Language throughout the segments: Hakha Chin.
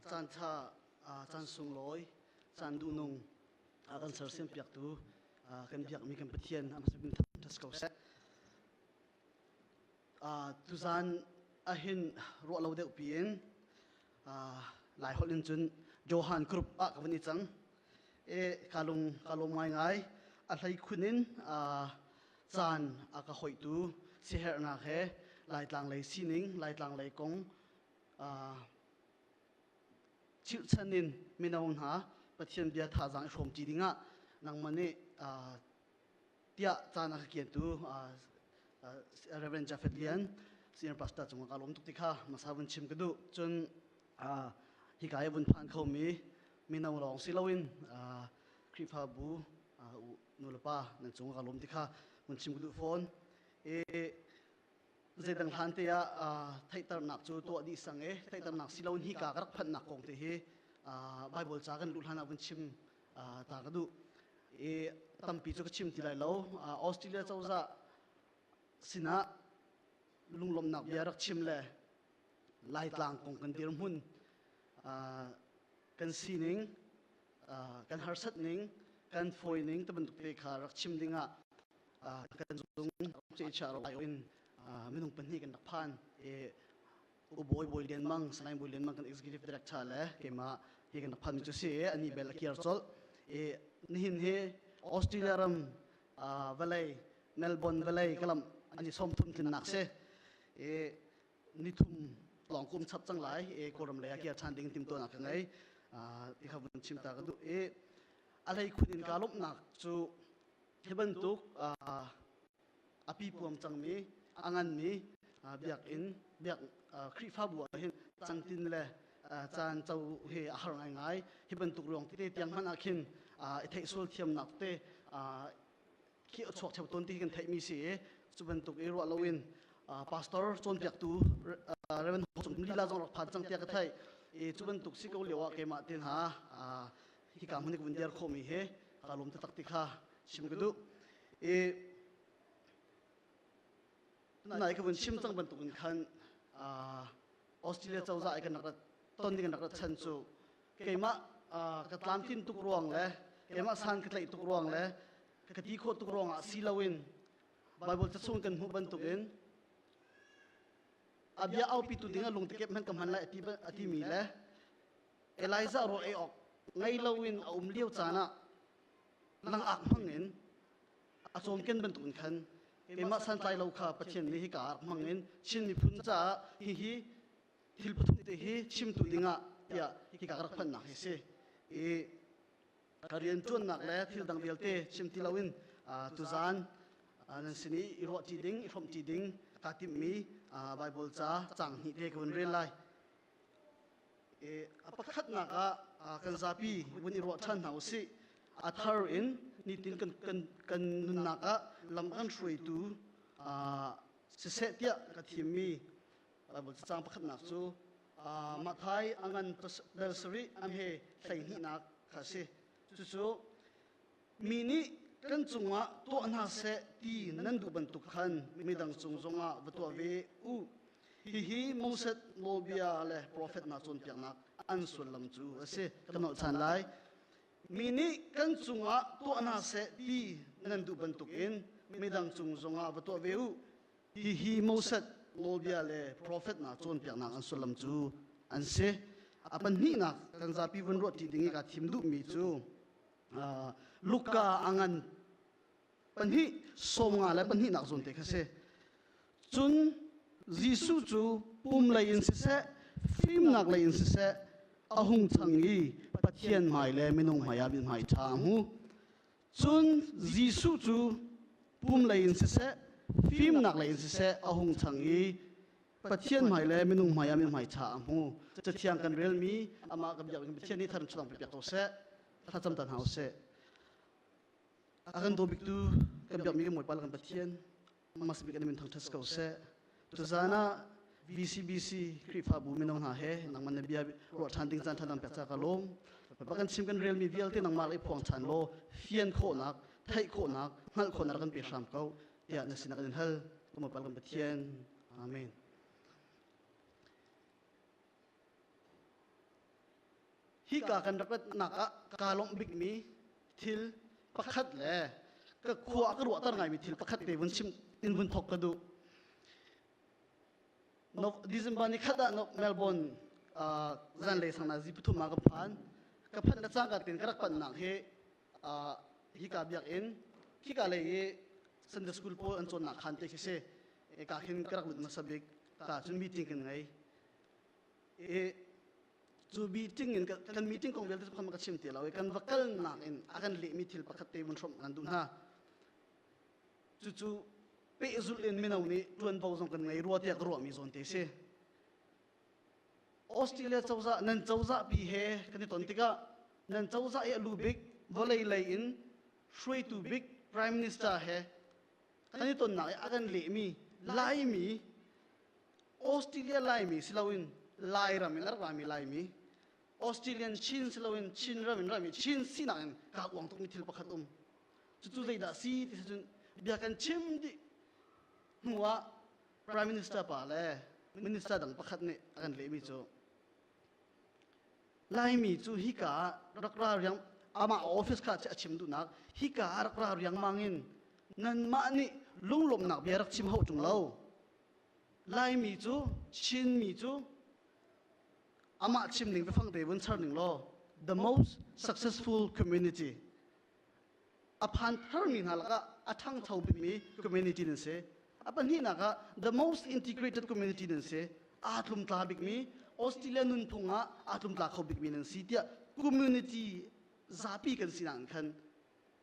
Caanṭha caan sunglawi, caan duhnung a kan sersiampiaktu kan biakmi kan Pathian a hmasabik ṭhas ko seh. Tuzaan ahhin ruah lo deuh piin Lai holh in cun Johan group ah ka van i cang. E ka lung ka lawm ngaingai. A hlei khun in caan a ka hoihtu siherhnak he Laitlang lei sining, Laitlang lei kong chirhchan in mino hna Pathian bia thazaang i hrawmṭi dingah nangmah nih tiah caan a ka kiantu Reverend Jafet Lian senior pastor cungah ka lawm tuk ti kha masa vun chim ka duh cun hika i vun phan khomi mino lawng si loin Khrihfabu nulepa nan cungah ka lawm ti kha vun chim ka duh fawn i zeidang hlan te ah theihternak cu tuah dih sang e theihternak si loin hika ka rak phanhnak kong te hi Bible ca kan luh hlan ah vun chim ta ka duh i tampi cu ka chim ti lai lo australia cozah sinah lunglawmhnak bia rak chim le laitlang kong kan dirhmun kan sining kan harsat ning kan fawi ning te bantuk te kha rak chim dingah kan zung cecha ro in minung pahnih kan rak phan i U Bawi Bawi Lian Mang, Sanaing Bawi Lian Mang kan executive director le keimah hi kan rak phanmi cu si i ani bel a kir colh. I nihin hi Australia ram uh, valley Melbourne valley kalam an i sawm thum tlinnak si. I ni thum lawng kum chap cang lai i kawram lei a kir ṭhan ding timtuanak ka ngei. Uh, i kha vun chim ta ka duh i a hlei khun in ka lawmhnak cu hi bantuk uh, a pipuam cangmi a nganmi biakinn biak Khrihfabu ahhin cangtin le caan co hi a har ngaingai hi bantuk ruang tete tiang hmanh ah khin i theih sual thiamnak te khi a chuak theo tawn ti kan theihmi si i cu bantuk i ruah loin pastor cawnpiaktu Reverend Hong Cung Lila zong rak phan cang tiah ka theih i cu bantuk si ko lio ah keimah te hna hika hmun i vun dir khomi hi ka lum taktak ti kha chim ka duh i nai ka vun chim cang bantuk in khan Australia cozah i kan rak rat ton ding rak rat chan cu keimah ka tlamtlin tuk ruang le keimah san ka tlaih tuk ruang le ka ti khawh tuk ruang ah si loin Bible cachung kan hmuh bantuk in abia aupi tu ding a lung tekep hman ka hman lai ati mi le Elijah ruah ei awk ngei loin a um lio caan ah lang ak hmang in a cawmken bantukin khan keimah santlai lo kha Pathian nih hika ah hmang in Chin miphun caah hihi thil pathum te hi chimtu dingah tiah hika ka rak phanhnak hi si i ka rianṭuannak le thil dang vialte chim ti loin tuzaan nan sin i i ruah ṭi ding i hrawmh ṭi ding kaa timhmi Baibal ca cang hnih te ka hun rel lai a pakhatnak ah kan zapi vun i ruah ṭhan hna u sih. A thar in nitin kan, kan, kan nunnak ah lam an hruaitu siseh tiah ka thimmi cacang pakhatnak cu Mathai angan vel sarih amhe hleihnih nak kha a si. Cucu mi nih kan cungah tuah hna seh ti nan duh bantuk khan midang cung zongah va tuah ve u. Hihi Moses nawlbia le profet nak cawnpiaknak an sullam cu a si. Ka nolhchan lai. Mi nih kan cungah tuah hna seh ti nan duh bantukin midang cung zongah va tuah ve u. Hihi Moses nawlbia le profet nak cawnpiaknak an sullam cu an si. A pahnihnak kan zapi vun ruahṭi ding i kaa thim duhmi cu Luka a ngan pahnih sawmnga le pahnih nak zun te kha si cun Jesuh cu pum lei in siseh fimnak lei in siseh a hung chang i Pathian hmai le minung hmai ah min hmai ṭha a hmu cun Jesuh cu pum lei in siseh fimnak lei in siseh a hung chang i Pathian hmai le minung hmai ah mi hmaicha a hmu. Cathiang kan relmi amah kan biak in Pathian nih thar in chuang piak ko seh. Thlacam tan hau seh. A kan daw biktu kan biakmi kan bawipa le kan Pathian mas bik kan min thangthat ko seh. Tuzan ah VCBC Khrihfabu minung hna he nangman na bia ruah than ding caan thanam pek ca ka lom. Ba kan chim kan relmi vialte nangmah le phuang chan law fian khawhnak, theih khawhnak, hngalh khawhnak kan pe hram ko. tiah na sinak in hal kuma pal kan Pathian amen hi ka kan rapatnak ah ka lawmh bikmi thil pakhat le ka khua ka ruahter ngaimi thil pakhat te vun chim in vun thok ka du no december ni khat ah no melbourne uh, zan le sang na zi pathum ma ka phan ka phan na chang ka tin ka rak pan nak hi hika biakinn hika lei i Sunday school pawl an cawnnak khan te khi si ka khin ka rak lut hmasa bik ta cun meeting kan ngei i cu meeting in kan meeting kong vialte khan ka chim ti lo i kan va kalnak in a kan lehmi thil pakhat te vun hrawmh kan duh hna cucu pehzulh in mino nih ṭuanvo zong kan ngei rua tiah ka ruahmi zawn te si Australia cozah nan cozahpi he kan i ton tikah nan cozah i a lu bik vawlei lei in hruaitu bik prime minister he kan i tonnak i a kan lehmi laimi Australia laimi si loin Lairam in a rami Laimi Australian Chin si loin Chin ram in rami Chin sinak in kaa uang tukmi thil pakhat um cucu zeidah si ti cun bia kan chim dih hnuah Prime Minister pa le minister dang pakhat nih a kan lehmi cu Laimi cu hika ah rak ra riang amah office kha a chim duhnak hika ah rak ra riangmang in nanmah nih lunglawmnak bia rak chim hau ṭung lo Laimi cu Chinmi cu amah chim ning biafang te vun char ning law the most successful community a phan tharmi hna lakah a ṭhangcho bikmi community nan si. A pahnihnak ah the most integrated community nan si. Aa tlumtla bikmi Australia nunphung ah aa tlumtla kho bikmi nan si tiah community zapi kan sinak in khan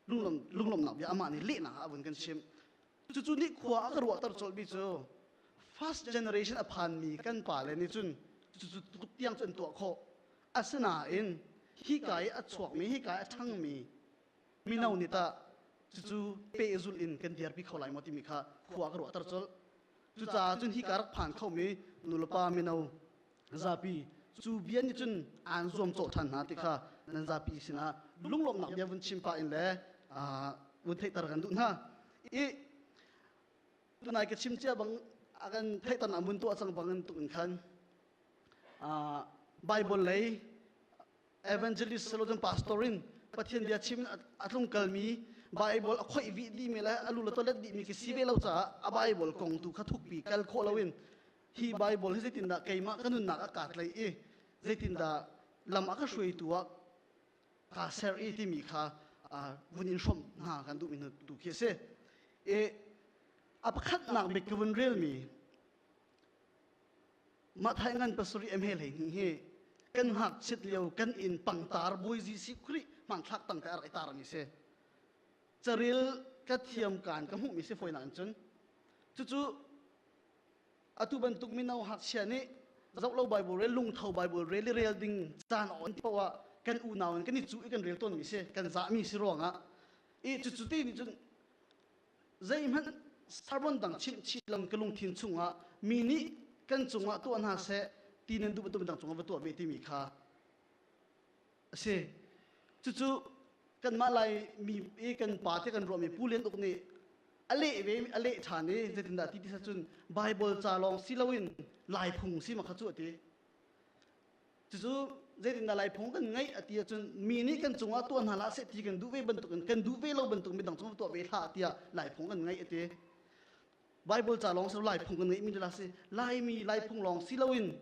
lunglawmhnak bia amah nih lehnak ah a vun kan chim. Cucu nih khua a ka ruahter colmi cu first generation a phanmi kan pale nih cun cucu tiang cun tuah khawh Asinain hika i a chuakmi hika i a ṭhangmi mino nih tah cucu pehzul in kan dirpi kho lai maw timi kha khua ka ruahter colh. Cucaah cun hika rak phan khomi nulepa mino zapi cu bia nih cun aan zuam cawlh ṭhan hna ti kha nan zapi sinah lunglawmhnak bia vun chim pah in le aa vun theihter kan duh hna. I tunai ka chim cia bang a kan theihternak mun tuah cang bangin tuk in khan Baibal lei evangelist silo cun pastor in Pathian bia chim a tlung kalmi Baibal a khoih vih dihmi le a lu le toilet dihmi khi si ve lo caah a Baibal kong tu kha thukpi kal khawh loin hi Baibal hi zeitindah keimah ka nunnak ah kaa tlaih i zeitindah lam a ka hruaitu ah kaa ser i timi kha vun in hrawmh hna kan duhmi tu khi a si. A pakhatnak bik ka vun relmi Mathai ngan pasarih eme lei ni hi kan hak chit lio kan in pangtar buai ji si khri man thlak tang ka ar tar mi si caril ka thiam kan ka mu mi si foi nan chun cucu atu bantuk mino hak sia ni zau lo bible re lung tho bible re li rel ding chan on powa kan u naw kan ni chu kan rel ton mi si kan za mi si ruanga i chu chu ti ni chun zeihmanh carbon dang chimhchih lam ka lungthin chungah mi nih kan cungah tuah hna seh ti nan duh bantukin dang cungah va tuah ve timi kha a si cucu kanmah lai mi i kan pa te kan ruahmi pu lian uk nih a leh ve a leh ṭhan i zeitindah ti ti cun Baibal ca lawng si loin laiphung si ma kha cu a ti Cucu zeitindah Laifung kan ngeih a ti ahcun mi nih kan cungah tuah hna la seh ti kan duh ve bantukin kan duh ve lo bantuk midang cungah tuah ve hlah tiah Laifung kan ngeih a ti. Bible ca lawng si Laifung kan ngeihmi dah si Laimi Laifung lawng si loin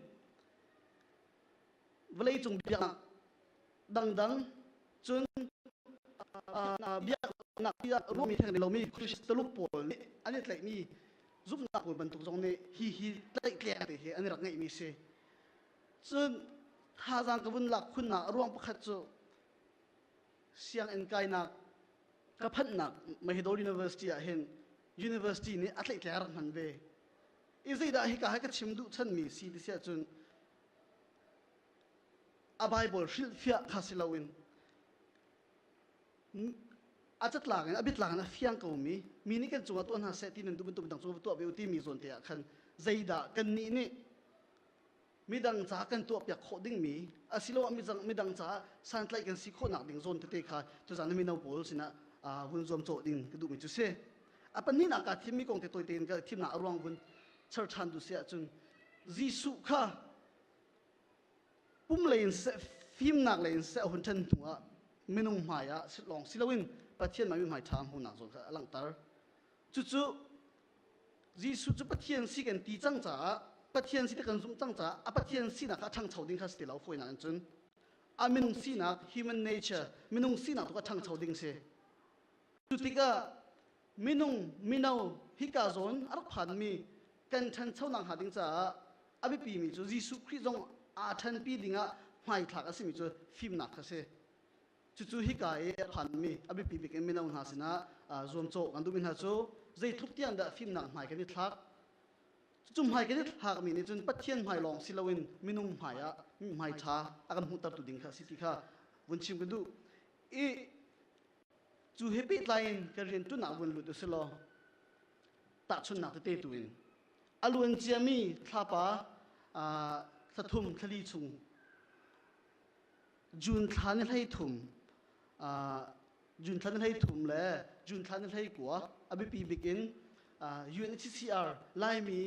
vawleicung biaknak dangdang cun biaknak tiah ruahmi theng lomi Christ taluk pawl nih an i tlaihmi zumhnak bantuk zong nih hi hi tlaihtleng te hi an i rak ngeihmi si. Cun thazang ka vun lak khun ah ruang pakhat cu sianginn kainak ka phanhnak Mahidol University ah hin university nih a tleitler rak hman ve. I zeidah hika hai ka chim duh chanmi si ti si ahcun a Bible hrilhfiah kha si loin a catlak in a bitlak in a fiang komi mi nih kan cungah tuah hna seh ti nan duh bantuk dang cu tuah ve u timi zawn te ah khan zeidah kannih nih midang caah kan tuahpiak khawh dingmi asiloah midang, midang caah santlaih kan si khawhnak ding zawn tete kha tuzan na mino pawl sinah hun zuamcawh ding ka duhmi cu si a pahnihnak kaa thimmi kong te tawite in ka thimnak a ruang hun char ṭhan tu si ahcun Jesuh kha pum lei in seh fimnak lei in seh a hun ṭhen hnu ah minung hmai ah lawng si loin Pathian mah mi hmai ṭha hmuhnak zawn kha a langhter. Cucu Jesuh cu Pathian si kan ti cang caah Pathian si ti kan zumh cang caah a Pathian sinak kha a ṭhangcho ding kha si ti lo fawinak in cun a minung sinak human nature minung sinak tu kha ṭhangcho ding si. Cu tikah minung mino hika zawn a rak phanmi kan ṭhanchonak hnga ding caah a biapimi cu Jesuh Khrih zong aa ṭhanpi dingah hmaithlak a simi cu fimnak kha si. Cucu hika i a phanmi a biapi bik in mino hna sinah zuamcawh kan duhmi hna cu zeitluk tiang dah fimnak hmai kan i thlak cucu hmai kan i thlakmi nih cun Pathian hmai lawng si loin minung hmai ah hmai ṭha a kan hmuhtertu ding kha a si ti kha vun chim ka duh. I Cu he pehtlai in kan rianṭuannak vun lut u si law tahchunhnak tete tu in a luan ciami thlapa thlathum thlali chung June thla ni hlei thum June thla ni hlei thum le June thla ni hlei kua a biapi bik in UNHCR Laimi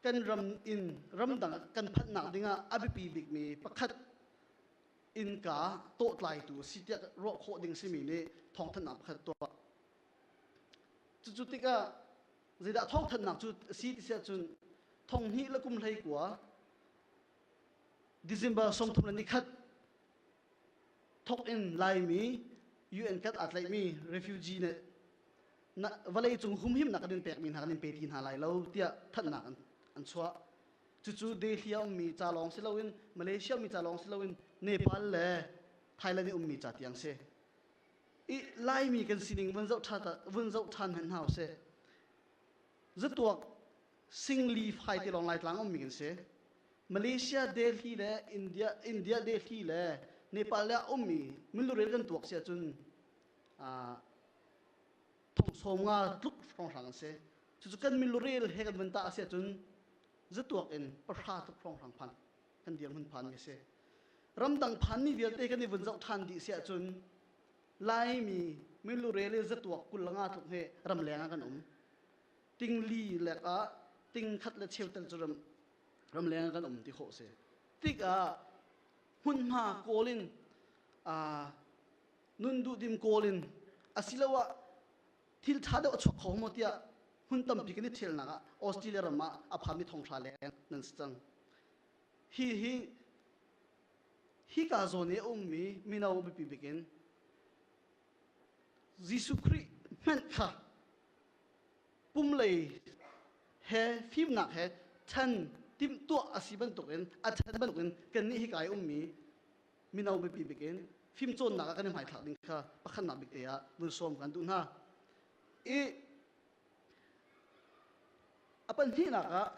kan ram in ramdang kan phanhnak ding ah a biapi bikmi pakhat innka tawhtlaitu a si tiah ruah khawh ding simi nih thawngthanhnak pakhat tuah cucu tikah zeidah thawngthanhnak cu a si ti si ahcun thong hnih le kum hlei kua December sawmthum le nikhat thawk in laimi UN kat aa tlaihmi refugee nih vawlei cung humhimnak kan in pekmi hna kan in pe ti hna lai lo tiah thanhnak an chuah cucu Delhi a ummi ca lawng si loin Malaysia ummi ca lawng si loin Nepal le Thailand i ummi ca tiang si i Laimi kan sining vun zoh ṭhan vun zoh ṭhan hen hau si zatuak singli fai te lawng Laitlang ummi kan si Malaysia Delhi le India India Delhi le Nepal le a ummi milurel kan tuak si ahcun thongsawm nga tluk hrawnghrang an si cucu kan milurel he kan van ta asi ahcun zatuak in pahra tuk hrawnghrang phan kan dir mun phan mi si ramdang phan ni vialte kan i vun zoh than dih si ahcun laimi milurel zatuak kul nga tluk he ram leng ah kan um tingli lek ah ting khat le cheu tal cu ram ram leng ah kan um ti ho si tik ah hmunhma kawl in nun duhdim kawl in asiloah thil ṭha deuh a chuak kho maw tiah hmun tampi kan i ṭhialnak ah Australia ram ah a phami thonghra leng nan si cang. Hi hi hika zawn i a ummi mino biapi bik in Jesuh Khrih hmenh kha pum lei he fimnak he ṭhen timhtuah a si bantukin a ṭhen bantukin kannih hika i ummi mino mipi bikin fimcawnnak ah kan i hmaithlak ding kha pakhatnak bik te ah vun sawm kan duh hna. I a pahnihnak ah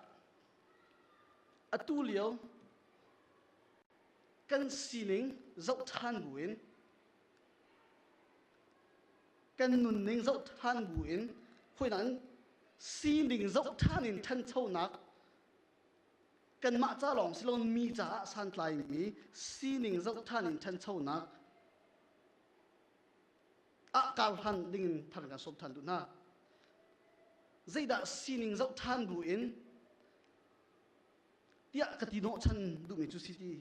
atu lio kan sining zoh ṭhan buin kan nunning zoh ṭhan buin hawinak in sining zoh ṭhan in ṭhanchonak kanmah ca lawng si loin mi caah santlaimi sining zoh ṭhan in ṭhanchonak ah kar hlan dingin thar kan sawm ṭhan duh hna. Zeidah sining zoh ṭhan bu in tiah ka ti hnawh chan duhmi cu si ti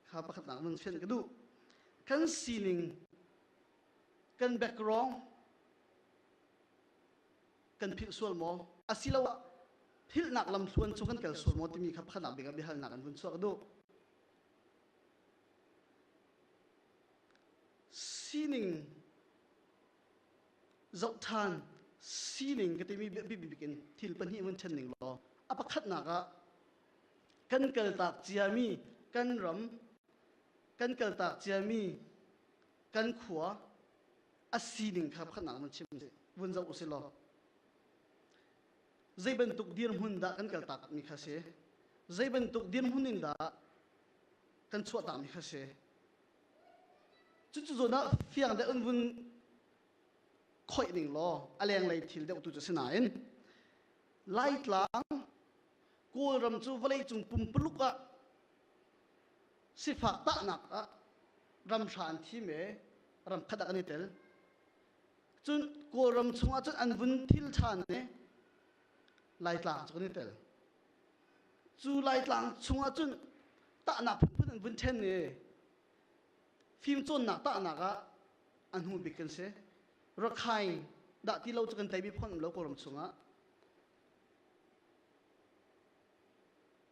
kha pakhatnak nan fian ka duh. Kan sining, kan background, kan philh sual maw asiloah philhnak lamthluan cu kan kal sual maw timi kha pakhatnak bik ah biahalnak in vun chuak duh sining zoh ṭhan sining ka timi biapibik in thil pahnih vun ṭhen ning law a pakhatnak ah kan kaltak ciami kan ram kan kaltak ciami kan khua a sining kha pakhatnak nan chim si vun zoh usih law zei bantuk dirhmun dah kan kaltak mi kha si zei bantuk dirhmun in dah kan chuahtak mi kha si cucu zawn ah fiang deuh in vun khoih ning law a lenglei thil deuh tu cu si nain laitlang kawlram cu vawleicung pumpuluk ah Sifah tahnak ah ramhra an thim e ramkhat ah kan i tel. Cun Kawlram chungah cun an vun thil ṭhan ne Laitlang cu kan i tel. Cu Laitlang chungah cun tahnak phunphun an vun ṭhen e fimcawnnak tahnak ah a hnu bik kan si. Rakhai dah ti lo cu kan tei mi phone um lo Kawlram chungah.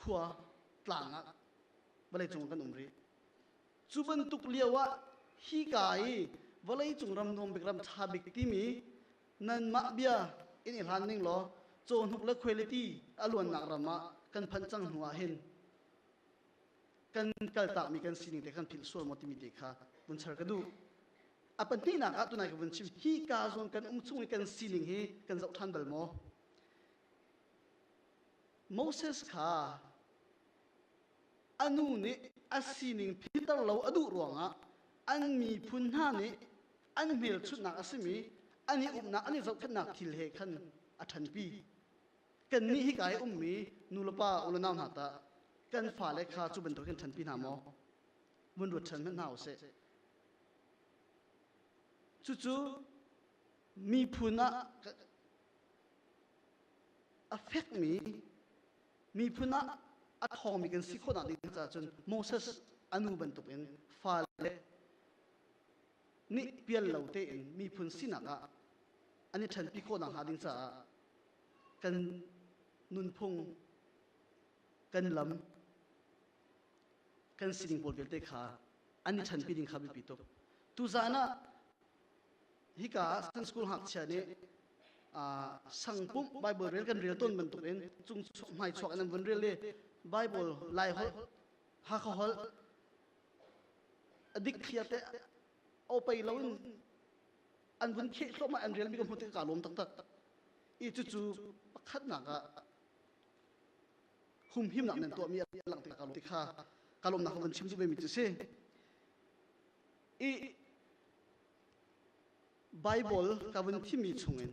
khua tlang ah vawleicung kan um rih. Cu bantuk lio ah hi ka i vawleicung ram nuam bik ram ṭha bik timi nanmah bia in i hlan ning law cawhnuk le khualeti a luannak ram ah kan phanh cang hnu ah hin kan kaltakmi kan sining te kan philh sual maw timi te kha vun char ka duh a pahnihnak ah tunai ka vun chim hi ka zawn kan um chung i kan sining hi kan zoh ṭhan bal maw Moses kha a nu nih a sining phiter lo a duh ruangah an miphun hna nih an hmelchunhnak a simi an i umnak an i zohkhenhnak thil he khan a ṭhanpi. Kannih hika i ummi nulepa unau hna tah kan fale kha cu bantuk hin ṭhanpi hna maw? Vun ruat ṭhan hmanh hna u sih. Cucu miphun ah a fekmi miphun ah a ṭhawngmi kan si khawhnak ding caah cun Moses a nu bantukin fale nih pial lo tein miphun sinak ah an i ṭhanpi khawhnak hnga ding caah kan nunphung, kan lam, kan sining pawl vialte kha an i ṭhanpi ding kha biapi tuk. Tuzan ah Hika ah kan school ngakchia nih sangpumh Bible rel kan rel tawn bantuk in cung chuak hmai chuak in an vun rel i Bible lai holh Hakha holh a dik thia te aw pei lo in an vun kheh thluahmah an relmi ka hmu tik kaa lawm taktak i cucu pakhatnak ah humhimnak nan tuahmi a lang tik kaa lawm ti kha ka lawmnak ka vun chim cu ve mi cu si Baibal ka vun thimi chungin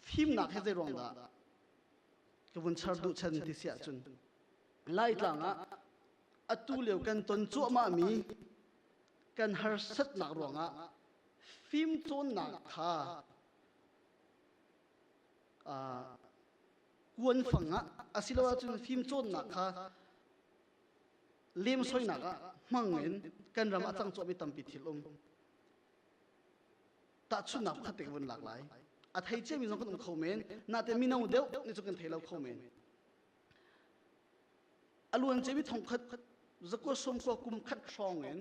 fimnak he zeiruang dah ka vun char duh chan ti si ahcun Laitlang ah atu lio kan ton cuahmahmi kan harsatnak ruangah fimcawnnak kha kuanfang ah a si lo ahcun fimcawnnak kha lemsoinak ah hmang in kan ram a cang cawhmi tampi thil um tahchunhnak pakhat te ka vun lak lai a thei ciami zong kan um kho men nate mino deuh ni cu kan thei lo kho men a luan cemi thongkhat zakua sumkua kum khat hrawng in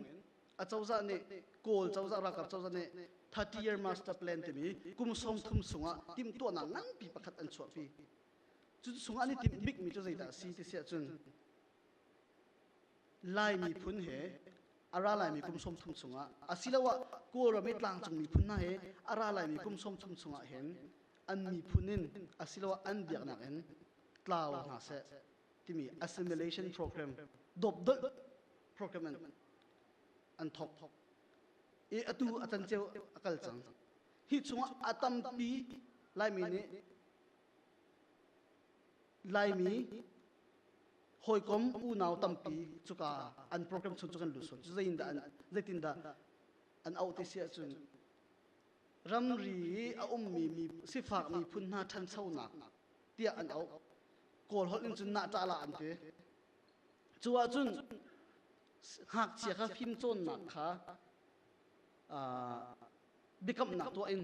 a cozah nih kawl cozah ralkap cozah nih 30 year master plan timi kum sawm thum sungah timhtuahnak nganpi pakhat an chuahpi Cun chung an i timh bikmi cu zeidah a si ti si ahcun Lai miphun he a ra laimi kum sawm thum chungah asiloah Kawlram i tlangcung miphun hna he a ra laimi kum sawm thum chungah hin an miphun in asiloah an biaknak in tlau hna seh timi assimilation program dopdolh program an, an thawk i atu a tan ceu a kal cang hi chungah a tampi Laimi nih Laimi hawikom unau tampi cuka an program chung cu kan lut suan cu zeitindah an zeitindah an auh ti si ahcun ramri i a ummi sifak miphun hna ṭhanchonak tiah an auh kawl holh in cun nahṭahlah an ti cu ahcun ngakchia kha fimcawnnak kha biakamnak tuah in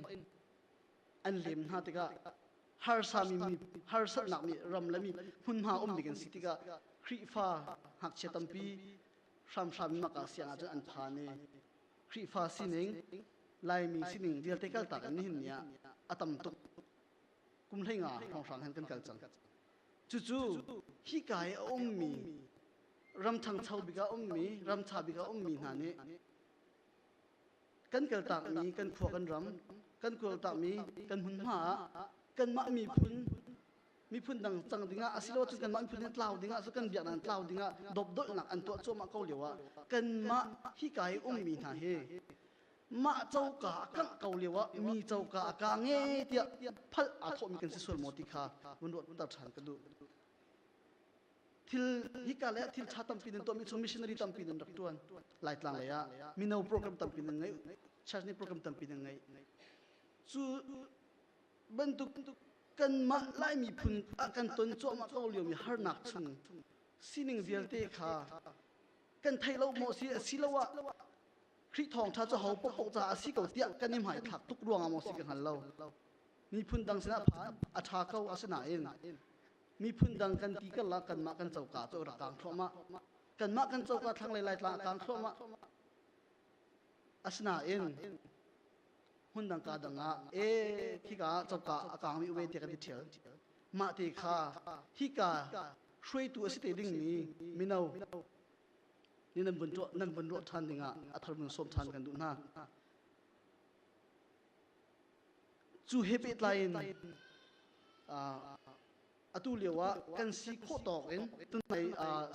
an lem hna tikah harsami mi harsatnak nih ram le mi hmunhma um ding an si tikah Khrihfa ngakchia tampi hramhram in maka siang ahcun an phan i Khrihfa sining Laimi sining vialte kaltak in nihin ni ah a tam tuk kum hlei nga hrawnghrang hen kan kal cang cucu hika i a ummi ram ṭhangcho bik ah ummi ram ṭha bik ah ummi hna nih kan kaltakmi kan khua kan ram kan kawltakmi kan hmunhma ah kanmah miphun miphun dang cang dingah asilo cun kanmah miphun in tlau dingah cu kan biak nan tlau dingah dopdolhnak an tuah cuahmah ko lio ah kanmah hika i ummi hna hi mah coka a kangh ko lio ah mi coka a ka nge tiah phal aa thawhmi kan si sual maw ti kha vun ruat ter ṭhan ka duh thil hika le thil ṭha tampi nan tuahmi chung missionary tampi nan rak ṭuan laitlang lei ah mino program tampi nan ngeih church nih program tampi nan ngeih cu bantuk kanmah lai miphun ah kan ton cuahmah ko liomi harnak chung sining vialte kha kan theih lo maw si asiloah Khrih thawngṭha cu ho popoh caah a si ko tiah kan i hmaithlak tuk ruangah maw si ka hngal lo miphun dang sinah phan a ṭha ko asinain miphun dang kan ti karlak kanmah kan coka cu rak kang thluahmah kanmah kan coka thlanglei laitla a kang thluahmah asinain hmun dang ka dang ah e khika coka a kangmi uve te kan ti thial mah te kha hika hruaitu a si te dingmi mino ni nan vun nan vun ruah than dingah a thar vun sawm than kan duh hna cu he pehtlai in atu lio ah kan si khawh tawk in tunai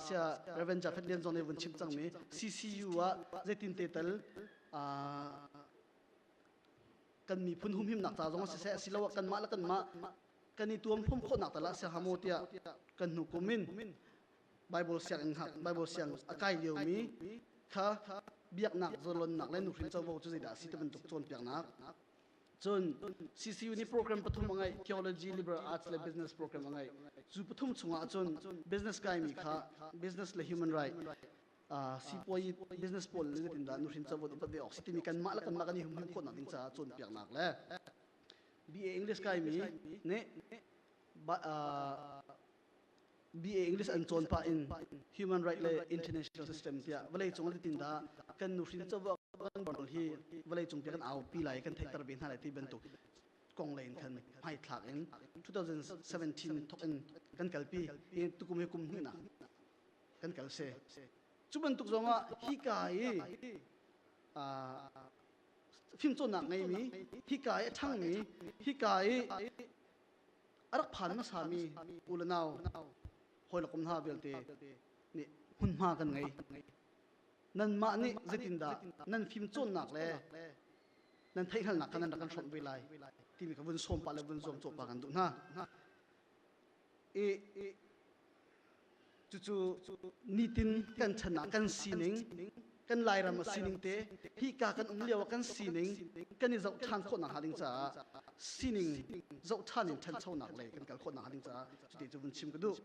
sia Reverend Jafet Lian Zong nih vun chim cangmi CCU ah zeitin te tal kan miphun humhimnak ca zong siseh asiloah kanmah le kanmah kan i tuam hrum khawhnak tal ah siaha maw tiah kan hnukum in Baibal sianginn Baibal siang a kai liomi kha biaknak zorlonnak le nuhrin covo cu zeidah a si ti bantuk cawnpiaknak cun CCU nih program pathum a ngeih theology liberal arts le business program a ngeih cu pathum chungah cun business kaimi kha business le human right sipuai business pawl le nitindah nuhrin covo i pat ve awk si timi kanmah le kanmah kan i humhim khawhnak ding caah cawnpiaknak le BA English kaimi nih BA English an cawn pah in Human Right le International System tiah vawleicung ah titin dah kan nuhrin covo kan borl hi vawleicung tiah kan aupi lai kan theihter ve hna lai ti bantuk kong lei in khan hmaithlak in 2017 thok in kan kalpi i tukum hi kum hnih kan kal se cu bantuk zong ah hika i fimcawnnak ngeimi hika i a ṭhangmi hika i a rak phan hmasa mi u le nau hawi le kum hna vialte nih hmunhma kan ngei nanmah nih zeitindah nan fimcawnnak le nan theihhngalnak kha nan rak kan hrawmh ve lai timi ka vun sawm pah le vun zuam cawpa kan duh hna i Cucu nitin kan chan ah kan sining, kan Lairam a sining te, hika kan um lio ah kan sining kan i zoh ṭhan khawh nakhnga ding caah sining zoh ṭhan in ṭhanchonak lei kan kal khawh nakhnga ding caah cuti cu vun chim ka duh.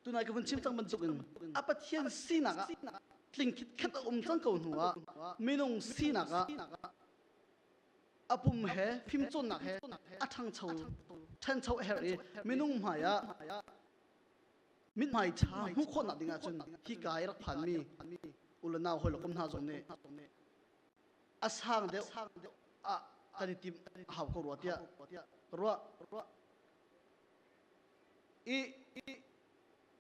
Tunai ka vun chim cang bantuk in a Pathian sinak ah tling khitkhat a um cang ko hnu ah minung sinak ah a pum he fimcawnnak he a ṭhangcho ṭhencho a herh i minung hmaiah mithmai ṭha hmuh khawhnak ding ahcun hika i rak phanmi u le nau hawilokom hna zong nih a sang deuh ah kan i tim a hau ko rua tiah ruah i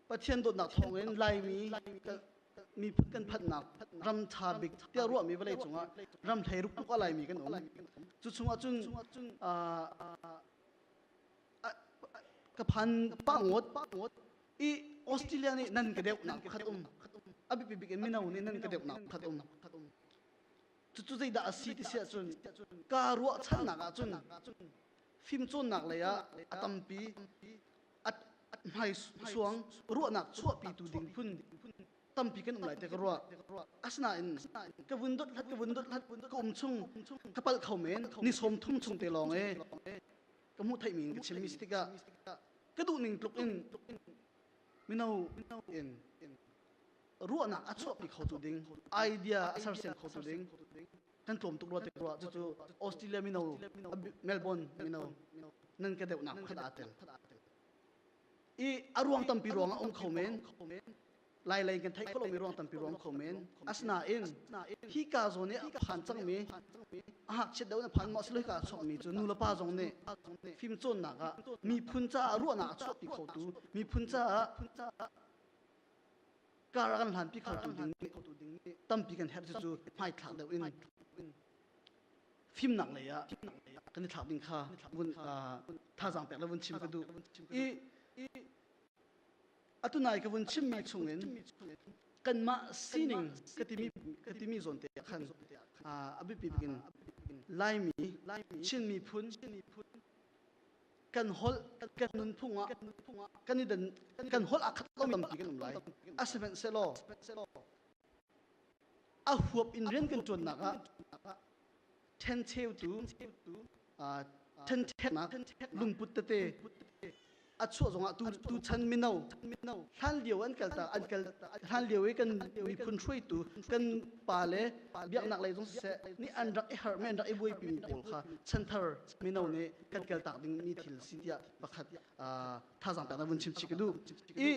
Pathian dawtnak thawngin Laimi miphun kan phanhnak ram ṭha bik tiah ruahmi vawlei cungah ram hlei ruk a laimi kan um. Cu chungah cun ka phan pa ngot i Australia nih nan ka deuhnak pakhat um a biapi bik in mino nih nan ka deuhnak pakhat um cucu zeidah a si ti si ahcun kaa ruahchannak ahcun fimcawnnak lei ah a tampi hmaisuang ruahnak chuahpitu ding phun tampi kan um lai te ka ruah asinain ka vun dot hlat ka vun dot hlat ka um chung ka pal kho men ni som thum chung te lawng e ka mu thai min ka chim mi tikah ka duh ning tluk in mino in ruahnak a chuahpi kho tu ding idea a sersiam kho tu ding kan tlawm tuk rua tuk rua cucu Australia mino Melbourne mino nan ka deuhnak khat aa tel i a ruang tampi ruang a um kho men lai lei kan theih kholomi ruang tampi ruang kho men asinain hi ka zawn nih a phan cangmi a hngakchiat deuh na phan maw siloi ka chuakmi cu nu le pa zong nih fimcawnnak ah miphun caah ruahnak a chuahpi khotu miphun caah kar a kan hlanpi khotu ding nih tampi kan herh cucu hmaithlak deuh in fimnak lei ah kan i thlak ding kha vun thazaang pek la vun chim ka duh i atu nai ka vun chimmi chungin kanmah sining ka timi ka timi zawn te ah khan a biapi bikin laimi Chin miphun kan holh kan nunphung ah kan i dan kan holh ah khat lo tampi kan um lai a sihmanhsehlaw a huap in rian kan ṭuannak ah ṭhencheutu ṭhencheknak lungput tete a chuah zongah tu tu chan mino hlan lio an kal ta an kal hlan lio i kan miphun hruaitu kan pa le biaknak lei zong siseh nih an rak i harh me an rak i buaipi mi pawl kha chanthar mino nih kan kaltak dingmi thil si tiah pakhat thazaang pek na vun chim chih ka duh i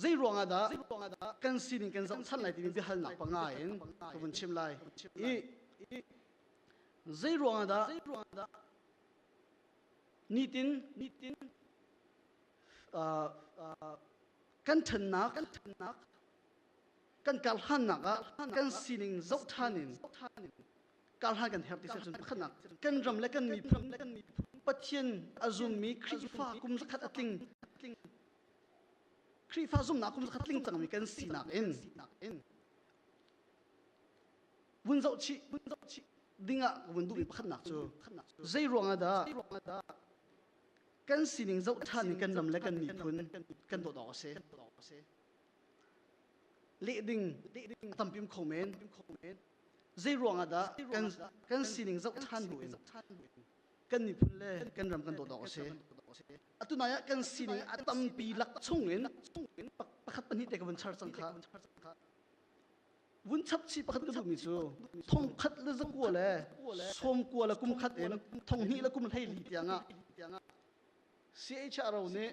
zei ruangah dah kan sining kan zoh than lai timi biahalnak panga in ka vun chim lai i zei ruangah dah nitin nitin kan thannak kan thannak kan karhlannak ah kan sining zoh ṭhan in karhlan kan herh ti seh cun pakhatnak kan ram le kan miphun Pathian a zummi Khrihfa kum zakhat a tling Khrihfa zumnak kum zakhat tling cangmi kan sinak in vun zoh chih ding ah ka vun duhmi pakhatnak cu zei ruangah dah kan sining zoh ṭhan in kan ram le kan miphun kan dawt awk a si leh ding a tam pim kho men zei ruang ah dah kan kan sining zoh ṭhan bu in kan miphun le kan ram kan dawt awk a si atu nai ah kan sining a tampi lak chung in pakhat pahnih te ka vun char cang kha vun chap chi pakhat ka duhmi cu thong khat le zakua le sawmkua le kum khat in thong hnih le kum hlei li tiang ah CHRO nih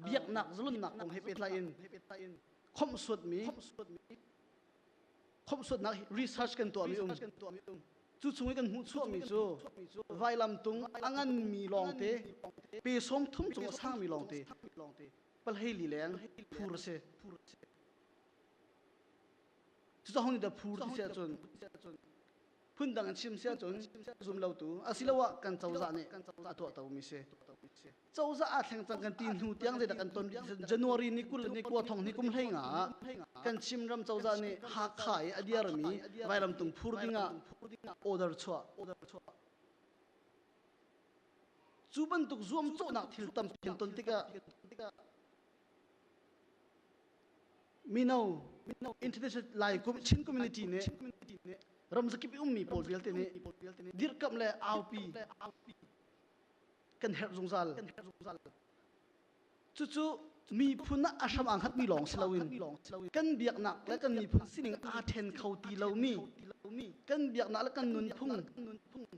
biaknak zalonnak kong he pehtlai in khomhsuatmi khomhsuatnak research kan tuahmi um cu chung i kan hmuh chuahmi cu vailamtung a nganmi lawngte pesong thum cung a sangmi lawngte palhei lileng phur a si Cucahung nih da phur ti si ahcun phundang in chim si ahcun zumlotu asiloah kan cozah nih a tuahtomi si. Cozah aa thleng cang kan ti hnu tiang zeidah kan ton January ni kul ni kua thong ni kum hlei nga ah kan Chinram cozah nih Hakha i a diarmi vailamtung phur dingah order chuah. Cu bantuk zuamcawhnak thil tampi kan ton tikah mino Chin community nih ram zakip i ummi pawl vialte nih dirhkamh le aupi kan herh zungzal cucu miphun ah a hram aa hngatmi lawng si loin kan biaknak le kan miphun sining aa ṭhen kho ti lomi kan biaknak le kan nunphung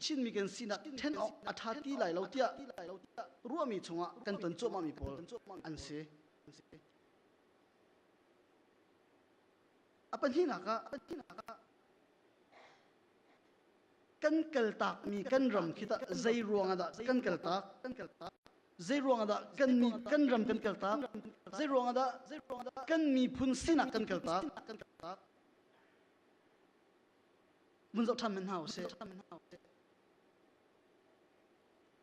Chinmi kan sinak ṭhen awk a ṭha ti lai lo tiah ruahmi chungah kan ton cuahmahmi pawl an si. A pahnihnak ah kan kaltakmi kan ram khi tah zei ruangah dah kan kaltak? Zei ruangah dah kan kan ram kan kaltak? Zei ruangah dah kan miphun sinak kan kaltak? Mun zoh ṭhan men hna u sih.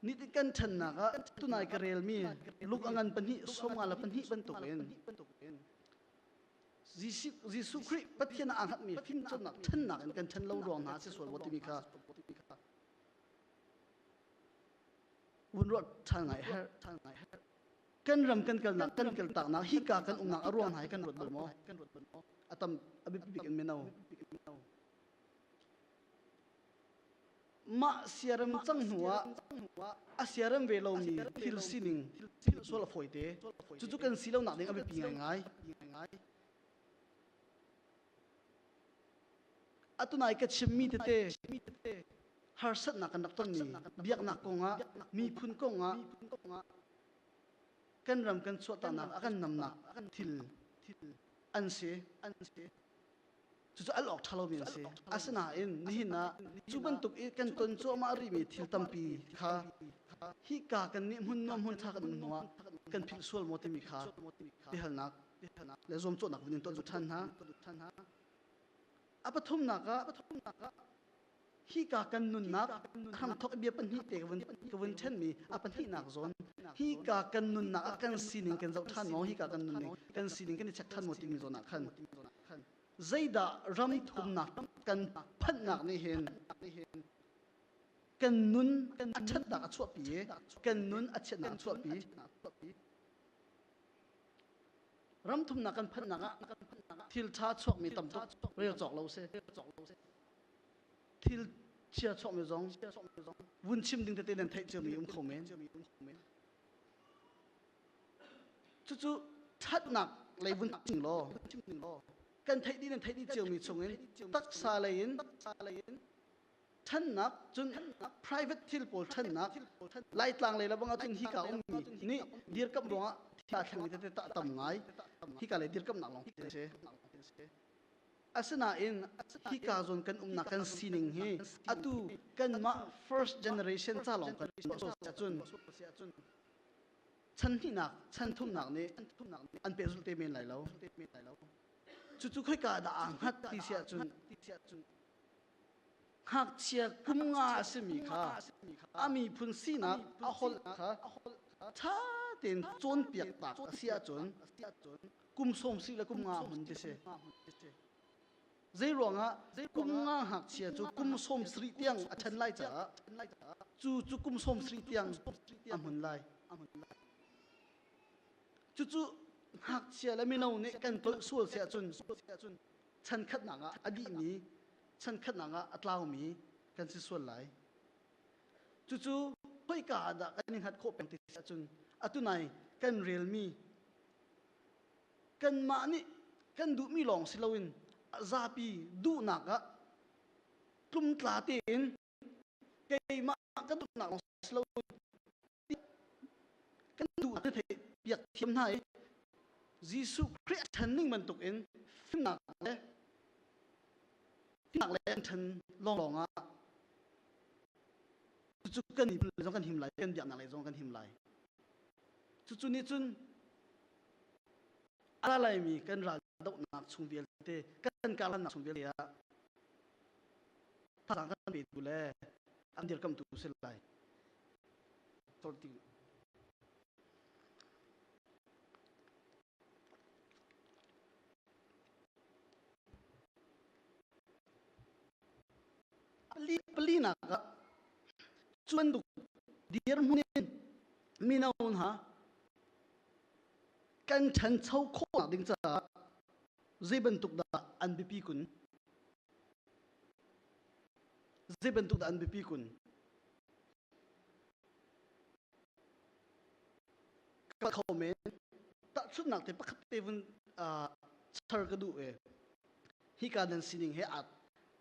Ni kan ṭhennak ah tunai ka relmi luk a ngan pahnih sawmnga le pahnih bantukin Jesuh Khrih Pathian aa hngatmi fimcawnnak ṭhennak in kan ṭhen lo ruang hna si sual wa timi kha vun ruat ṭhan ngai herh ṭhan ngai herh kan ram kan kalnak kan kaltaknak hika kan umnak a ruang hna hi kan ruat bal maw a tam a biapik in mino mah siarem cang hnu ah a siarem ve lomi thil sining thil sual a fawi te cucu kan si lo nak ding a biapi ngaingai atu nai ka chimmi tete harsatnak kan rak tonmi biaknak kong ah miphun kong ah kan ram kan chuahtanak a kan namnak thil an si an si cucu al awk ṭha lomi an si asinain nihin ah cu bantuk i kan ton cuahmah rihmi thil tampi kha hika kan nih hmun nuam hmun ṭha kan um hnuah kan philh sual maw timi kha biahalnak le zuamcawhnak vun in tuah ṭhan hna a pathumnak ah hika kan nunnak thangthok bia pahnih te ka vun ṭhenmi a pahnihnak zawn hika kan nunnak ah kan sining kan zoh ṭhan maw hika kan nunning kan sining kan i check ṭhan maw timi zawn ah khan zeidah ram thumnak kan phanhnak nih hin kan nun a ṭhatnak a chuahpi i kan nun a chiatnak a chuahpi ram thumnak kan phanhnak ah thil ṭha chuakmi tam tuk rel cawk lo si thil chia chawkmi zong vun chim ding tete nan theih ciami um kho men cucu thatnak lei vun chim law kan theih dih nan theih dih ciami chungin taksa lei in thannak cun private thil pawl thannak laitlang lei labang ahcun hi ka ummi nih dirkam ruangah thila thleng tete ta tam ngai hi ka le dirkam nak lawng ti si Asinain hika zawn kan umnak kan sining hi atu kanmah first generation ca lawng kan tuah ahcun chan hnihnak chan thumnak nih an pehzulh te men lai lo. Cucu khoika dah aa hngat ti si ahcun ngakchia kum nga a simi kha a miphun sinak a holh kha ṭha tein cawnpiak tak a si ahcun kum sawng si le kum nga hun ti si zei ruangah kum nga ngakchia cu kum sawm sarih tiang a ṭhen lai caah cu cu kum sawm sarih tiang a hmun lai cucu ngakchia le mino nih kan tolh sual si ahcun chankhatnak ah a dihmi chankhatnak ah a tlaumi kan si sual lai cucu khoika ah dah kan i hngat khawh peng ti si ahcun atunai kan relmi kanmah nih kan duhmi lawng si loin a zapi duhnak ah tlumtla tein keimah ka duhnak lawng si lo kan duhnak kan theih piak thiam hna i Jesuh Khrih a ṭhan ning bantuk in fimnak le fimnak le an ṭhan lawnglawng ah cucu kan him zong kan him lai kan biaknak lei zong kan him lai cucu nih cun a laimi kan raldohnak chung vialte kan karhlannak chung vialte ah thazang kan petu le an dirkamtu si lai Ali pali nak ah chuan duk dir hmun in mino hna kan ṭhancho khawhnak ding caah zei bantuk dah an biapi kun zei bantuk dah an biapi kun kal kho men tahchunhnak te pakhat te vun char ka duh ve hika nan sining he aa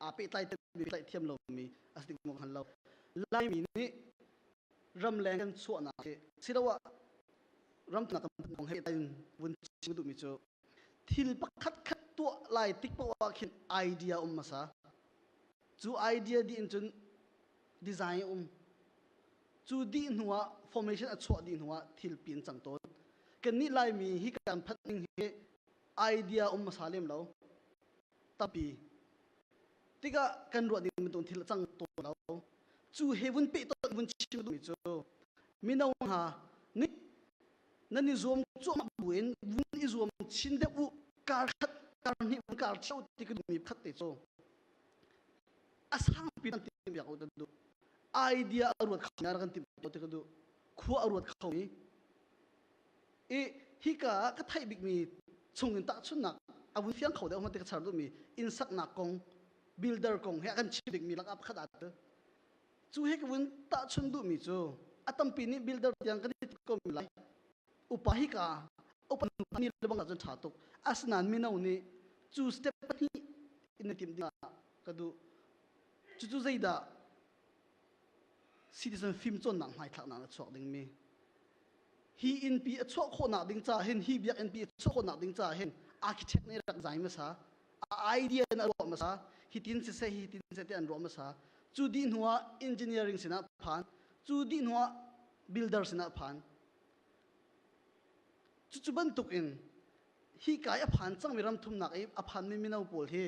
aa pehtlai timi pehtlai thiam lomi a si ding hngal lo laimi nih ramleng kan chuahnak hi siloah ramtnak tam kong he pehtlai in vun chim ka duhmi cu thil pakhatkhat tuah lai tik paoh ah khin idea um hmasa cu idea dih in cun design um cu dih hnu ah formation a chuah dih hnu ah thil pin cang tawn kan nih laimi hi kan phat ning hi idea um hmasa lem lo tapi tikah kan ruah ding bantuk thil a cang tawn lo cu he vun peh tawn vun chim duhmi cu mino hna nih nan i zuam cuahmah buin vun i zuam chin deuh u kar khat kar hnih vun kar cheu ti kan mi khat te cu a sang pi nan tim biak u kan du idea a ruat kho nya kan tim to ti kan du khua a ruat kho i i hika ka thai bik mi chungin tahchunnak a vun fiang kho deuh ma ti ka char du mi inn saknak kong builder kong he kan chim bik mi lakap khat at Cu hi ka vun tahchun duhmi cu a tampi nih builder tiang kan i ko lai. Upa hi ka upa mi lebang ahcun ṭha tuk. Asinain mino nih cu step pahnih in na timh dingah ka duh. Cucu zeidah citizen fimcawnnak hmaithlaknak na chuak dingmi? Hi innpi a chuah khawhnak ding caah hin, hi biakinn pi a chuah khawhnak ding caah hin, architect nih rak zai hmasa. a idea in a ruah hmasa hitin siseh hitin siseh ti an ruah hmasa cu dih hnuah engineering sinah phan cu dih hnuah builder sinah phan cucu bantuk in hi kai a phan cangmi ram thumnak i a phanmi mino pawl hi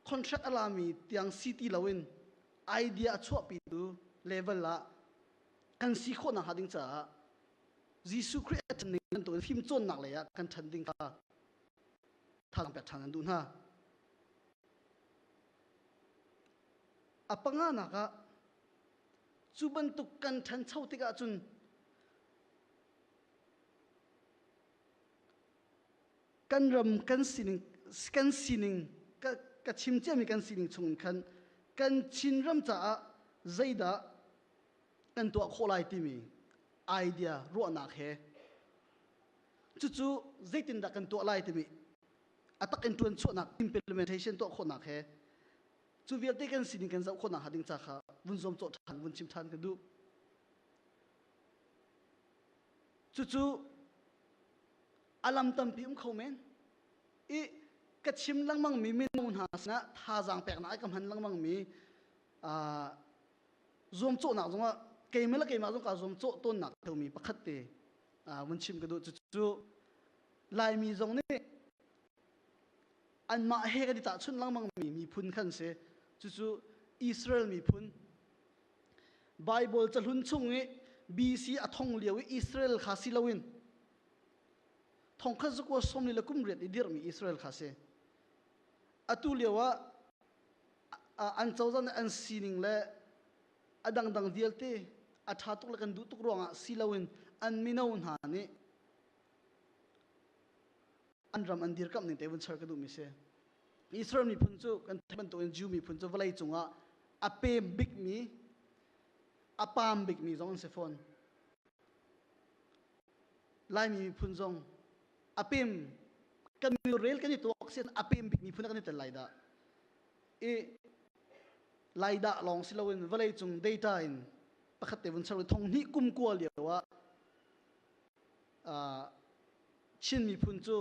contract a lami tiang si ti loin idea a chuahpitu level ah kan si khawh nakhnga ding caah Jesuh Khrih a ṭhan ning nan tuah fimcawnnak lei ah kan ṭhan ding kha thalang pek ṭhan an duh hna. A panganak ah cu bantuk kan ṭhancho tikah cun kan ram kan sining kan sining ka, ka chim ciami kan sining chung in khan kan Chin ram caah zeidah kan tuah khawh lai timi idea ruahnak he cucu zeitindah kan tuah lai timi a tak in ṭuan chuahnak implementation tuah khawhnak he cu vialte kan sining kan zoh khawhnak hnga ding ca kha vun zuam cawh ṭhan vun chim ṭhan ka duh cucu a lam tampi um kho men i ka chim lengmangmi minung hna sinah thazaang peknak ai ka hman lengmangmi zuamcawhnak zongah keimah le keimah zong kaa zuamcawh tawnnak teumi pakhat te vun chim ka duh cucu laimi zong nih anmah he kan i tahchunh lengmangmi miphun khan si cucu Israel miphun Bible cahlun chung i BC a thong lio i Israel kha si loin thong khat zakua sawm li le kum riat i dirhmi Israel kha si atu lio ah an cozah nih an sining le a dangdang vialte a ṭha tuk le kan duh tuk ruangah si loin an mino hna nih an ram an dirkamh ning te vun char ka duhmi si Israel miphun cu kan theih bantukin Jew miphun cu vawlei cungah a pem bikmi a pam bikmi zong an si fawn Laimi miphun zong a pem kan mil rel kan i tuak sin a pem bik miphun kan i tel lai dah i lai dah lawng si loin vawlei cung data in pakhat te vun ser thong hni kum kua lio ah Chin miphun cu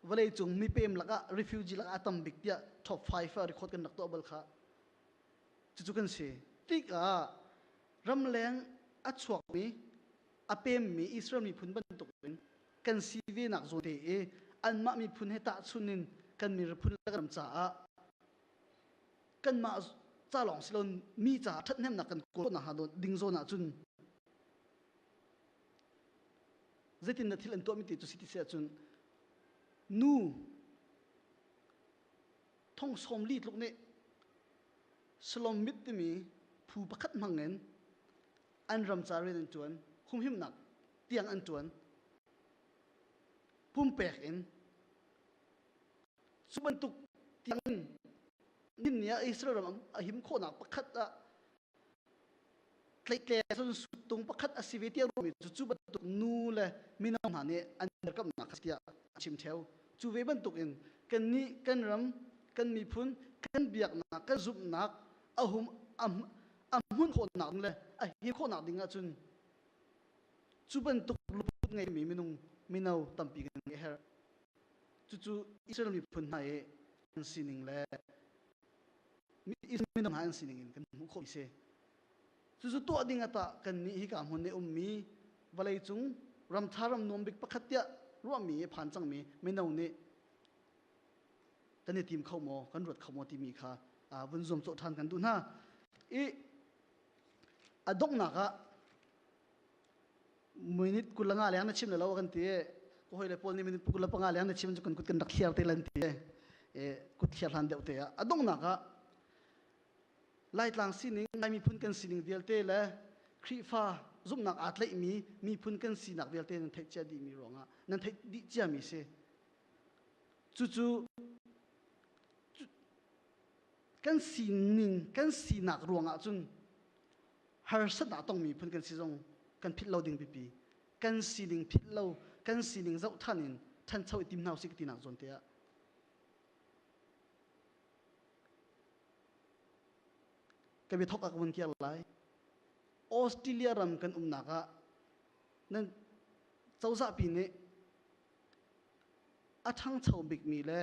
vawlei cung mipem lakah refugee lakah a tam bik tiah top 5 a record kan rak tuah bal kha cucu kan si tikah ramleng a chuakmi a pemmi Israel miphun bantukin kan si venak zawte i anmah miphun he tahchunh in kan miphun le kan ram caah kanmah ca lawng si lo mi caah ṭhathnemnak kan kawl nakhnga ding zawn ahcun zeitin na thil an tuahmi ti cu si ti si ahcun nu thong sawm li tluk nih salom mit timi phu pakhat hmangin an ramca rian an ṭuan, humhimnak tiang an ṭuan, pumpek in cu bantuk tiangin ninni ah Israel ram a him khawhnak pakhat ah tleitle cun suttung pakhat a si ve tiang romi cu cu bantuk nu le mino hna nih an derkamnak a si tiah a chim theo cu ve bantukin kan nih kan ram kan miphun kan biaknak kan zumhnak a hum a, a hmunh khawhnak ding le a hi khawhnak ding ahcun cu bantuk luput ngeimi minung mino tampi kan ngeih a herh cucu Israel miphun hna i an sining le mino hna an sining in kan hmuh khawh si cucu tuah ding atah kannih hika hmun i ummi vawleicung ramtha ram nuam bik pakhat tiah ruahmi phan cangmi mino nih kan i tim kho maw kan ruat kho maw timi kha vun zum cawh ṭhan kan duh hna i a donghnak ah minute kul nga leng na chim le lo kan ti ko hoi le paul nih minute kul le panga leng na chim cu kan kut kan rak thliar te lan ti kut thliar hlan deuh te ah a donghnak ah laitlang sining ngai miphun kan sining vialte le Khrihfa zumhnak aa tleihmi miphun kan sinak vialte nan theih cia dihmi ruangah nan theih dih ciami si Cucu kan sining kan sinak ruangah cun harsat ah tongmi phun kan si zong kan philh lo ding pipi kan sining philh lo kan sining zoh than in thancho i tim hna usih tinak zawn te ah ka bia thawk ah ka vun kiar lai Australia ram kan umnak ah nan cozahpi nih a ṭhangcho bikmi le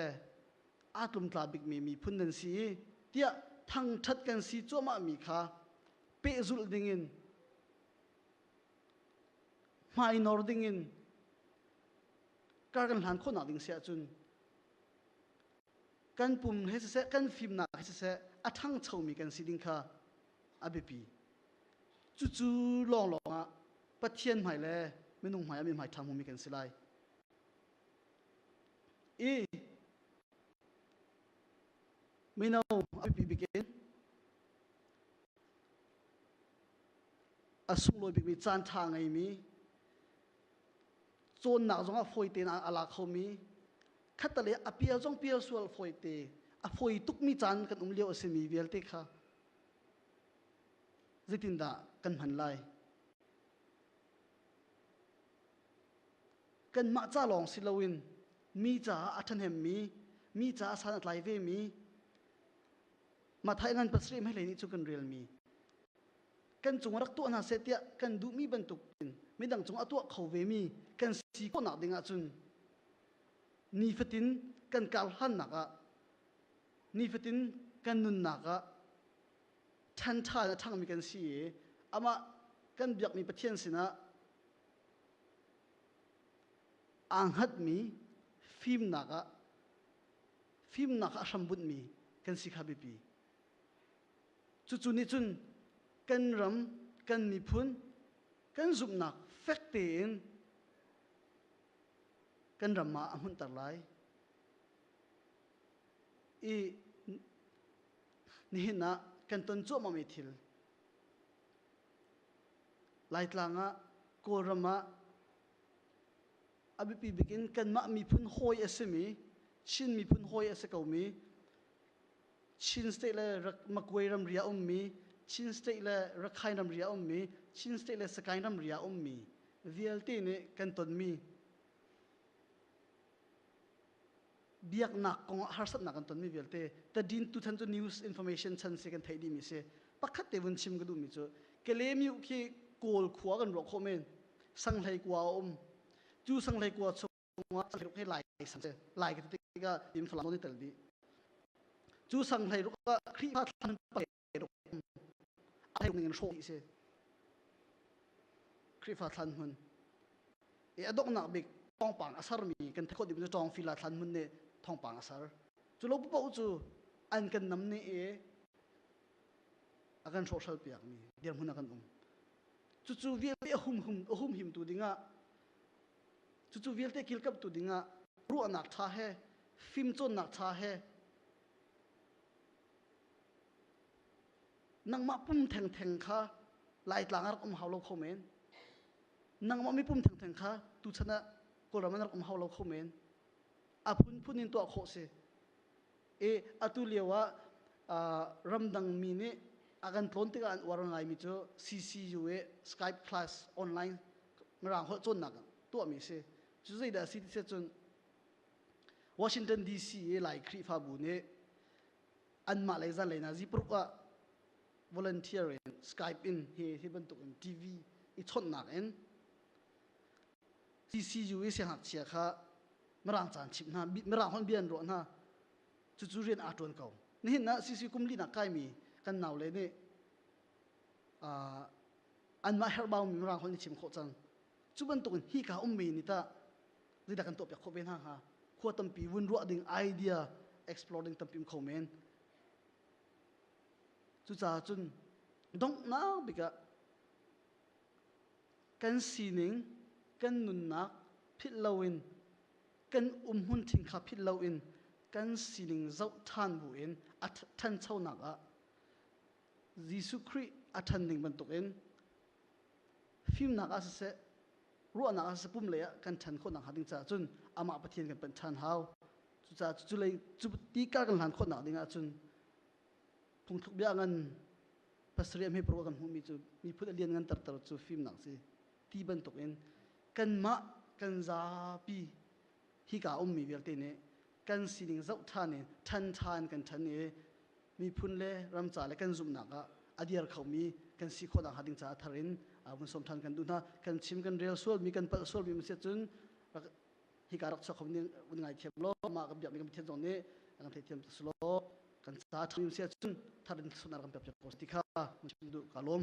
aa tlumtla bikmi miphun nan si i tiah thangṭhat kan si cuahmahmi kha pehzulh dingin hmainor dingin kar kan hlan khawhnak ding si ahcun kan pum he siseh kan fimnak he siseh a ṭhangchomi kan si ding kha a biapi. Cucu lawnglawng ah Pathian hmai le minung hmai ah mi hmai ṭhangmumi kan si lai. I mino a biapi bik in a sunglawi bikmi caan ṭha ngeimi cawnnak zongah fawi tein a la khomi khatalei a pial zong pial sual fawi te a fawi tukmi caan kan um lio a simi vialte kha Zeitindah kan hman lai? Kanmah ca lawng si loin mi caah a ṭhahnemmi, mi caah san a tlai vemi, Matthai ngan pasarih hmailei nih cu kan relmi. Kan cung rak tuah hna seh tiah kan duhmi bantukin midang cungah tuah kho vemi kan si khawhnak ding ahcun nifatin kan kar hlannak ah nifatin kan nunnak ah ṭhanṭha in a ṭhangmi kan si i amah kan biakmi Pathian sinah aa hngatmi fimnak ah fimnak ah hrambunhmi kan si kha biapi. Cucu nih cun kan ram, kan miphun, kan zumhnak fek tein kan ram ah a hmunhter lai. i nihin ah kan ton cuahmahmi thil Laitlang ah Kawlram ah a biapi bik in kanmah miphun hawi a simi Chin miphun hawi a si komi Chin state le Magway ramri ah ummi Chin state le Rakhine ramri ah ummi Chin state le Sagaing ramri ah ummi vialte nih kan tonmi biaknak kong ah harsatnak kan tonmi vialte tadin tutan cu news information chan si kan theih dihmi si pakhat te vun chim ka duhmi cu kelemiu khi kawl khua kan ruak khawh men sanghlei kua a um cu sanghlei kua chungah sanghlei ruk he lai sang se lai ka tikah im thalam ni tel di cu sanghlei ruk ah khrihfa thlan a hleirung in hrawh dih si Khrihfa thlan hmun i a donghnak bik thawngpang a sarmi kan thekhawt ding cu ṭawngfila thlan hmun nih thawngpang a sar cu lo paoh cu an kan nam ni i a kan hrawhhral piakmi dirhmun a kan um cucu vialte a hum hum a hum himtu dingah cucu vialte kilkamtu dingah ruahnak ṭha he fimcawnnak ṭha he nangmah pum thengtheng kha laitlang ah rak um hau lo kho men nangmah mipum thengtheng kha tuchan ah kawlram ah rak um hau lo kho men a phunphun in tuah khawh si i atu lio ah ramdang mi nih a kan tlawn tikah an uar ngaimi cu CCU i Skype class online ngaraang holh cawnnak tuahmi a si cu zeidah a si ti cun Washington DC i Lai Khrihfabu nih anmah lei zanlei na ziparuk ah volunteer in Skype in hi hi bantuk in TV i chawnhnak in CCU i siangakchia kha mirang caan chimh hna mirang hon bia an ruah hna cucu rian aa ṭuan ko nihin ah CC kumlinak kaimi kan naule nih anmah herhbaumi mirang hon i chim khawh cang cu bantuk in hika ummi ni tah zeidah kan tuahpiak khawh ve hna hnga khua tampi vun ruah ding idea explore ding tampi um kho men cucaah cun donghnak bik ah kan sining kan nunnak philh loin kan umhmun thing kha philh loin kan sining zoh ṭhan buin a ṭhanchonak ah Jesuh Khrih a ṭhan ning bantukin fimnak ah siseh ruahnak ah sapum lei ah kan ṭhan khawhnak hnga ding caah cun amah Pathian kan panh ṭhan hau. Cucaah cu lei cu ti ka kan hlan khawhnak ding ah cun phungthluk bia ngan pasarih a hmeparuk a kan hmuhmi cu miphun a lian ngan terter cu fimnak si ti bantuk in kanmah kan zapi hika ummi vialte nih kan sining zoh ṭhan in ṭhanṭha in kan ṭhan i miphun le ramca le kan zumhnak ah a dir khomi kan si khawh nakhnga ding caah thar in vun sawm ṭhan kan duh hna kan chim kan rel sualmi kan palh sualmi ma si cun rak hika rak chuak khomi wun ngaithiam law mah kan biakmi kan pathian zong nih kan theithiam tuk si law kan ca ṭhangim si ahcun thar in sunak kan piak ko ti kha mun chim duh ka lawm